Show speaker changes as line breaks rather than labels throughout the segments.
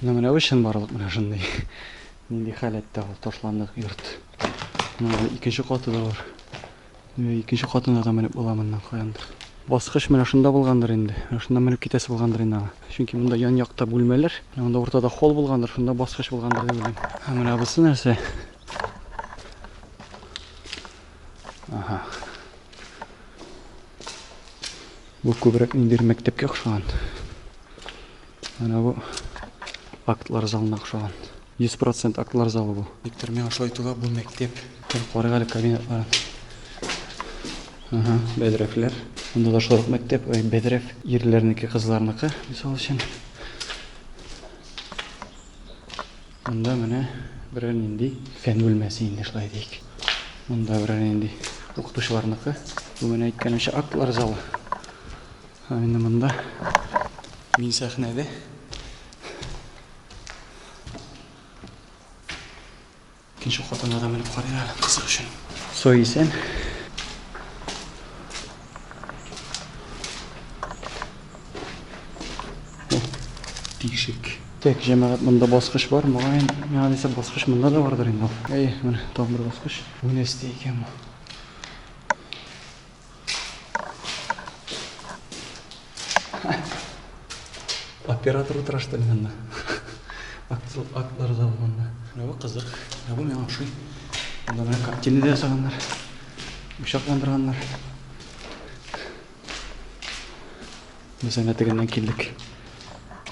Ну менә бу чынбарлык менә шундый. Нинди халәттә ул ташландык йорт. Менә икенче каты да бар. Икенче катына да менеп була моннан каяндыр. Баскыч менә шунда булгандыр инде. Менә шунда менеп китәсе булгандыр инде аңа. Чөнки монда ян якта бүлмәләр. Монда уртада холл булгандыр, шунда баскыч булгандыр дип уйлыйм. Ә менә бусы нәрсә? Ага. Бу күбрәк ниндидер мәктәпкә охшаган. Менә бу актлар залына охшаган. 100% актлар залы бу. Виктор, миңа шулай тоела бу мәктәп. Бер карыйк әле кабинетларын. Ага, бәдрәфләр. Монда да шулай мәктәп, ой, бәдрәф ирләрнеке, кызларныкы, мисал өчен. Монда менә берәр нинди фән бүлмәсе инде шулай дик. Монда берәр нинди укытучыларныкы. Бу менә әйткәнемчә актлар залы. Ә менә монда мин сәхнәдә. Икенче катына да менеп карыйм әле кызык өчен. Сой исән. Тишек. Так, җәмәгать, монда баскыч бар. Мөгаен, миңа дисә баскыч монда да бардыр инде. Әй, менә тагын бер баскыч. Бу нәрсә икән бу? Оператор утыра что ли монда? Актер актлар залы монда. Менә бу кызык. Менә бу миңа ошый. Монда менә картина да ясаганнар. Учакландырганнар. Без әнә тегеннән килдек.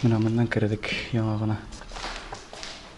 Менә моннан кердек яңа гына.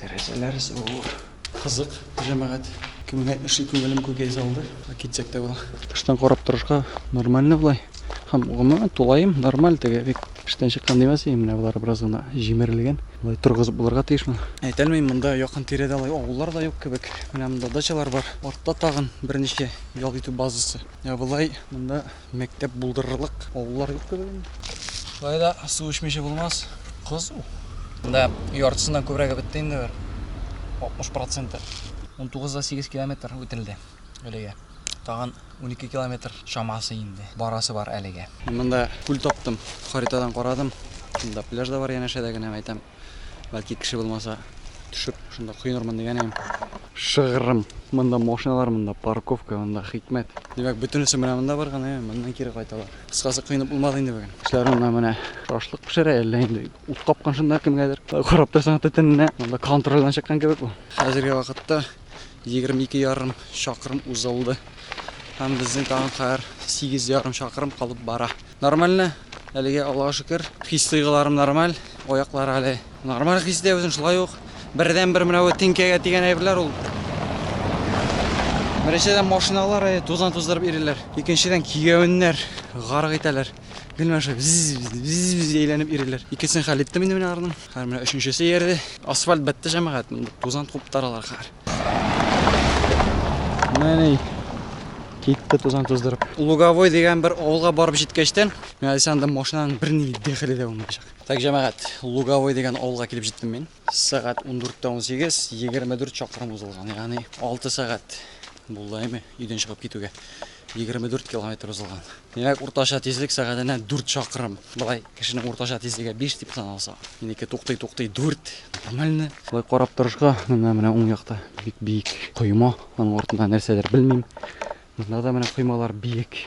Тәрәзәләр зур. Кызык, җәмәгать. Кемгә эшли күңелем күкәй залды. Китсәк тә була. Тыштан карап торышка нормально болай. Һәм гомумән тулаем нормаль теге бик эштән чыккан димәс идем, менә болар бераз гына җимерелгән. Болай торгызып булырга тиешме? Әйтәлмим, монда якын тирәдә алай авыллар да юк кебек. Менә монда дачалар бар. Артта тагын берничә ял итү базасы. Ә болай монда Мәктәп булдырырлык авыллар юктыр инде. Шулай да су эчмичә булмас. Кызу. Да, яртысыннан күбрәге бетте инде бер. 60 проценты. 19 да 8 километр үтелде әлегә. Тагын 12 километр чамасы инде барасы бар әлегә. Монда күл таптым, харитадан карадым. Монда пляж да бар янәшәдә генә әйтәм. Бәлки кеше булмаса, төшеп, шунда коенырмын дигән идем. Шыгрым. Монда машиналар, монда парковка, монда хикмәт. Димәк, бөтенесе менә монда бар гына, моннан кире кайталар. Кыскасы, коенып булмады инде бүген. Кешеләр монда менә шашлык пешерә, әллә инде ут капкан шунда кемгәдер. Карап торсаң, төтененә монда контрольдан чыккан кебек бу. Хәзерге вакытта 22 ярым чакрым узылды. Һәм безнең тагын хәзер 8 ярым чакрым калып бара. Нормально, әлегә Аллага шөкер. Хис тойгыларым нормаль, аяклар әле нормаль хистә үзен шулай ук. Бердән бер менә бу тинкәгә дигән әйберләр ул. Беренчедән машиналар э, тузан туздырып иреләр. Икенчедән кигәвеннәр гарык итәләр. Гел шулай биз әйләнеп иреләр. Икесен хәл иттем инде менә арның. Хәзер менә өченчесе иярде. Асфальт бетте җәмәгать. Тузан куптаралар хәзер. Менә китте тузан туздырып. Луговой дигән бер авылга барып җиткәчтән, мин әле анда машинаның берни дәхиле дә булмаячак. Так, җәмәгать, Луговой дигән авылга килеп җиттем мин. Сәгать 14:18, 24 чакрым узылган. Ягъни 6 сәгать булды әйме өйдән чыгып китүгә. 24 километр узылган. Димәк, уртача тизлек сәгатенә 4 чакрым. Былай Кешенең уртача тизлеге 5 дип саналса, минеке туктый-туктый 4. Нормально. Шулай карап торышка, менә менә уң якта бик биек койма, аның артында нәрсәдер белмим. Монда да менә коймалар биек.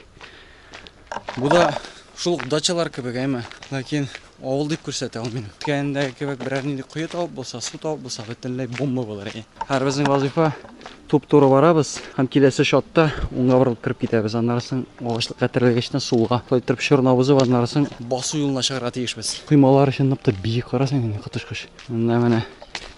Бу да шул дачалар кебек, әйме. Ләкин авыл дип күрсәтә ул минем. Кәендәге кебек берәр нинди кое табып булса, су табып булса, бөтенләй бомба булыр иде. Һәрбезнең вазифа Туп-туры барабыз һәм киләсе шатта уңга борылып кереп китәбез. Аннары соң агачлыкка терлегечтән сулга, шулай торып чорны узып, аннары соң басу юлына чыгарга тиешбез. Коймалар чынлап та биек, карасаң инде коточкыч. Монда менә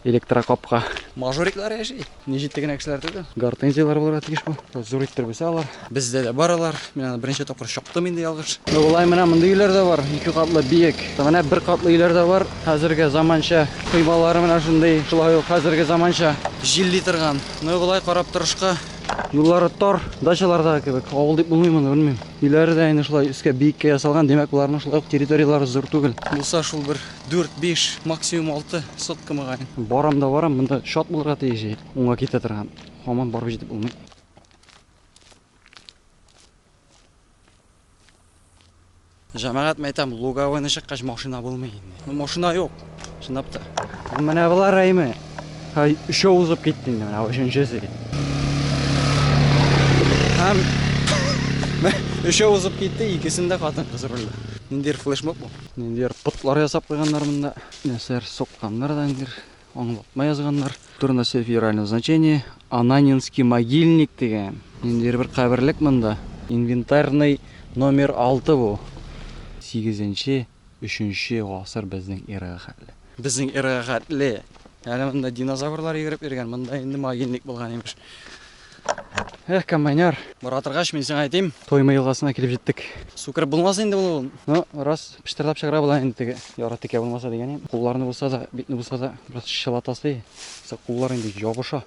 электрокапка. Мажориклар яши. Ни җитте генә кешеләр түгел. Гортензияләр булырга тиеш бу. Зур иттербез алар. Бездә дә бар алар. Мин аны беренче тапкыр чоктым инде ялгыш. Болай менә мондый өйләр дә бар, ике катлы биек. Менә бер катлы өйләр дә бар. Хәзерге заманча коймалары менә шундый. Шулай ук хәзерге заманча җилли торган. Ну болай карап торышка. Юллары тар, дачалардагы кебек. Авыл дип булмый моны, белмим. Өйләре дә инде шулай өскә биеккә ясалган, димәк, боларның шулай ук территорияләре зур түгел. Булса шул бер дүрт-биш, максимум алты сотка мөгаен. Барам да барам, монда чат булырга тиеш җир. Уңга китә торган. Һаман барып җитеп булмый. Җәмәгать мәйтәм, лугавыны чыккач машина булмый инде. Ну, машина юк, чынлап та. Менә болар әйме. Һай, өчәү узып китте инде, менә өченчесе. Һәм өчәү узып китте, икесендә хатын кыз рулда. Ниндидер флешмоб бу. Ниндидер потлар ясап куйганнар монда. Нәрсәләр сукканнар да ниндидер. Аңлатма язганнар. Турында сөйләп федерального значения Ананинский могильник дигән. Ниндидер бер каберлек монда. Инвентарный номер 6 бу. 8 нче, 3 нче гасыр безнең эрага хәтле. Безнең эрага хәтле. Әле монда динозаврлар йөреп йөргән, монда инде могильник булган имеш. Эх, комбайнер. Бара торгач, мин сиңа әйтим. Тойма елгасына килеп җиттек. Су кереп булмас инде моны ул. Ну, раз пыштырдап чыгара була инде теге. Яра текә булмаса дигән идем. Кулларны булса да, битне булса да бераз чылатасы. Сак куллар инде ябыша.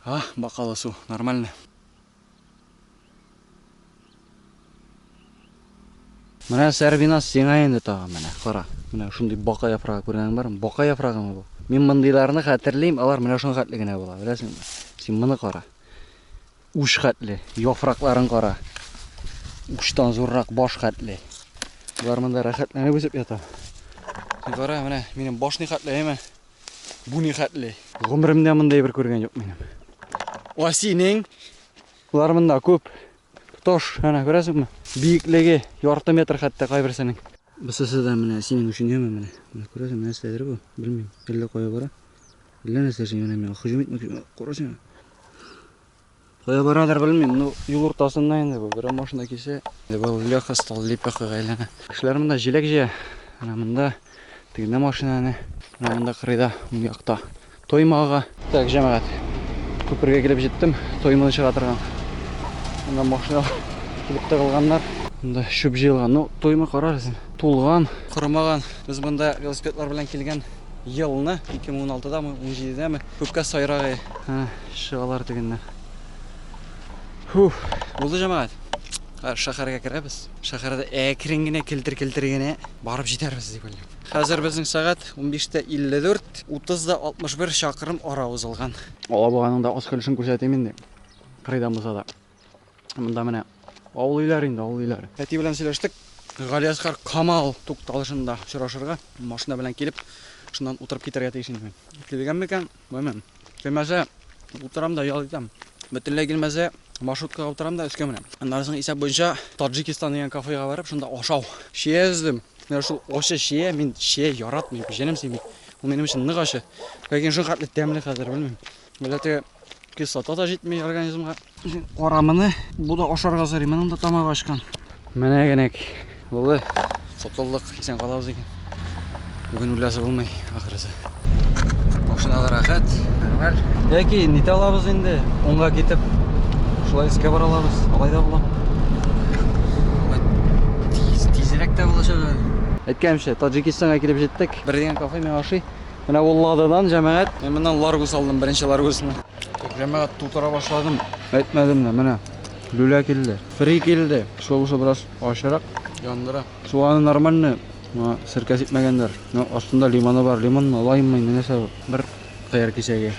А, бакалы су, нормально. Менә Сәрбиназ сиңа инде тагы менә, кара. Менә шундый бака яфрагы күргәнең бармы? Бака яфрагымы бу? Мин мондыйларны хәтерлим, алар менә шуның хәтле генә була, беләсеңме? Син моны кара. Уч хәтле, яфракларын кара. Учтан зуррак баш хәтле. Болар монда рәхәтләнеп үсеп ята. Син кара, менә минем баш ни хәтле, әйме? Бу ни хәтле? Гомеремдә мондай бер күргән юк минем. Ва синең? Болар монда күп. Тоташ, әнә күрәсеңме? Биеклеге ярты метр хәтта кайберсенең. Бусысы да менә синең өчен яме менә. Менә күрәсеңме, нәрсәдер бу? Белмим. Әллә кая бара? Әллә нәрсә эшли менә миңа? Һөҗүм итмәкче. Карасаң. Кая барадыр белмим, ну юл уртасында инде бу. Берәр машина килсә, либо Леха стал лепехага әйләнә. Кешеләр монда җиләк җыя. Менә монда тегендә машинаны, менә монда кырыйда, уң якта. Тоймага. Так, җәмәгать. Күпергә килеп җиттем. Тойманы чыга торган. Монда машина килеп тыгылганнар. Монда чүп җыелган. Ну, тойма карарсың. Тулган, кормаган. Без монда велосипедлар белән килгән елны 2016-дамы, 17-дәме Күпкә сайрагы. Ха, чыгалар тегеннән. Фух, булды җәмәгать. Шәһәргә керәбез. Шәһәрдә әкрен генә килтер-килтер генә барып җитәрбез дип уйлыйм. Хәзер безнең сәгать 15:54, 30да 61 чакрым ара узылган. Алабуганың да аз көлешен күрсәтим инде. Кырыйдан булса да. Монда менә авыл өйләре инде, авыл өйләре. Әти белән сөйләштек. Галиәсгар Камал тукталышында очрашырга, машина белән килеп, шуннан утырып китәргә тиеш инде. Килгән микән? Белмим. Килмәсә, утырам да ял итәм. Бөтенләй килмәсә, маршруткага утырам да өскә менәм. Аннан соң исәп буенча Таджикистан дигән кафега барып, шунда ашау. Шия эздем. Менә шул ачы шия, мин шия яратмыйм, җенем сыймый. Ул минем өчен нык ачы. Ләкин шул хәтле тәмле хәзер, белмим. Милләте Кислота да җитми организмга. Карамыны бу да ашарга сорый. Моның да тамагы ачкан. Менә генәк булды. Котылдык, исән калабыз икән. Бүген үләсе булмый, ахырысы. Машинада рәхәт, нормаль. Яки нитә алабыз инде, онга китеп, шулай искә бара алабыз, алай да була. Тиз, тизрәк тә булачак әле. Әйткәнемчә, Таджикистанга килеп җиттек. Бер дигән кафе миңа ошый. Менә ул лададан җәмәгать. Мин моннан ларгус алдым, беренче ларгусны. Җәмәгать тутыра башладым. Әйтмәдем дә, менә. Люля килде. Фри килде. Шулысы бераз ачырак. Яндыра. Суганы нормальный. Моңа серкә сипмәгәннәр. Но астында лимоны бар. Лимонмы, лайммы, инде нәрсә бу? Бер кыяр кисәге.